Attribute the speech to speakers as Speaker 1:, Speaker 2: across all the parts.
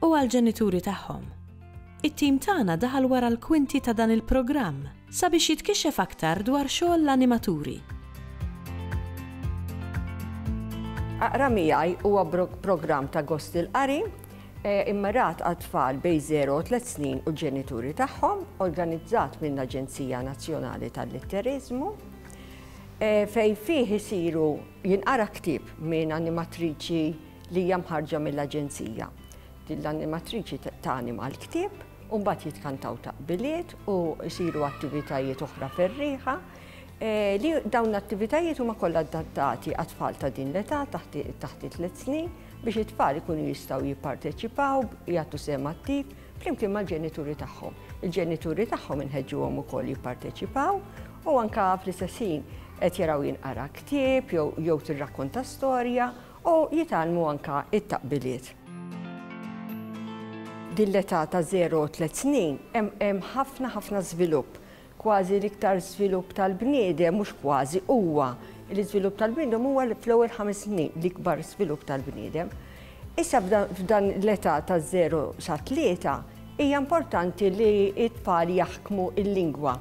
Speaker 1: u għall-ġenituri tagħhom. It-tim tagħna daħal wara l-kwinti ta' dan il-programm sabiex jitkixxef aktar dwar xogħol l-animaturi. Aqra Miegħi huwa programm ta' gost il-qari immirat għal tfal bej 0 u 3 snin u ġenituri tagħhom, organizzat minn Aġenzija Nazzjonali tal-Litteriżmu, fej fih isiru jinqara ktieb minn animatriċi li hija mħarrġa mill-Aġenzija. Din l-animatriċi tanima l-ktieb u mbagħad jitkantaw taqbiliet u jsiru attivitajiet oħra ferriħa eh, li dawn l-attivitajiet huma kollha adattati għat-tfal ta' din l-età taħt it-tliet snin biex it-tfal ikunu jistgħu jipparteċipaw, jagħtu sem attiv flimkien mal-ġenituri tagħhom. Il-ġenituri tagħhom inħeġġuhom ukoll jipparteċipaw u anka fl-istessin qed jaraw jinqara ktieb jew tirrakkonta storja u jitgħallmu anke t-taqbiliet. Din l-età ta' żero u tliet snin hemm ħafna ħafna żvilupp, kważi l-iktar żvilupp tal-bniedem, mhux kważi, huwa l-iżvilupp tal-bniedem huwa fl-ewwel ħames snin, l-ikbar żvilupp tal-bniedem. Issa f'dan l-età ta' żero sa tlieta hija importanti li t-tfal jaħkmu l-lingwa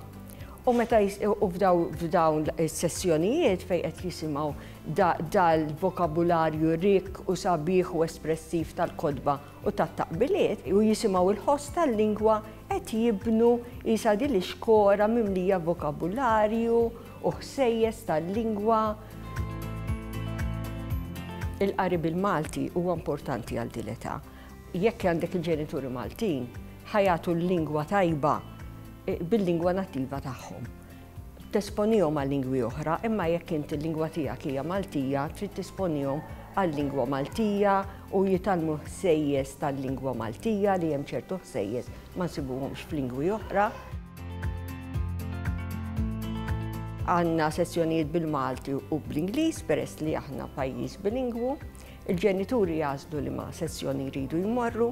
Speaker 1: u meta u f'dawn is-sessjonijiet fejn qed jisimgħu dal-vokabularju rikk u sabiħ u espressiv tal-kotba u tat-taqbiliet u jisimgħu l-ħoss tal-lingwa qed jibnu qisha din ix-xkora mimlija vokabularju u ħsejjes tal-lingwa. Il-qari bil-Malti huwa importanti għal din l-età. Jekk għandek il-ġenituri Maltin, ħa jagħtu l-lingwa tajba bil-lingwa nattiva tagħhom. Tesponihom għal lingwi oħra, imma jekk int il-lingwa tiegħek hija Maltija, trid tesponihom għal-lingwa Maltija u jitgħallmu ħsejjes tal-lingwa Maltija li hemm ċertu ħsejjes ma nsibuhomx f'lingwi oħra. Għandna sessjonijiet bil-Malti u bl-Ingliż peress li aħna pajjiż bilingwu. Il-ġenituri jażlu li ma' sessjoni jridu jmorru.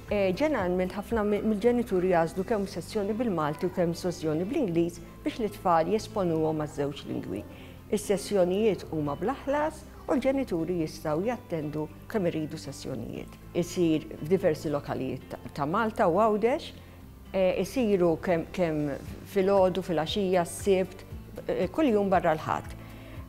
Speaker 1: Ġeneralment ħafna mill-ġenituri jagħżlu kemm sezzjoni bil-Malti u kemm sozzjoni bl-Ingliż biex lit-tfal jesponuhom għaż-żewġ lingwi. Is-sessjonijiet huma bla ħlas u l-ġenituri jistgħu jattendu kemm iridu sessjonijiet. Isir f'diversi lokalijiet ta' Malta u Għawdex. Isiru kemm filgħodu, filgħaxija, s-Sibt, kull jum barra l-Ħadd.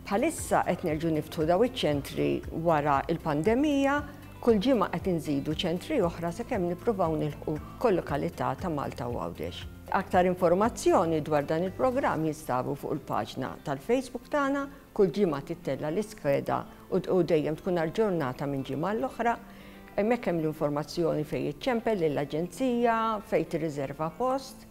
Speaker 1: Bħalissa qed nerġgħu niftħu daw iċ-ċentri wara l-pandemija Kull ġimgħa qed inżidu ċentri oħra sakemm nippruvaw nilħqu kol-lokalità ta' Malta u Għawdex. Aktar informazzjoni dwar dan il-programm jinstabu fuq il-paġna tal-Facebook tagħna, kull ġimgħa tittella' l-iskeda u dejjem tkun aġġornata minn ġimgħa għal oħra. Hemmhekk hemm l-informazzjoni fejn iċċempel lill-Aġenzija, fejn tirriżerva post.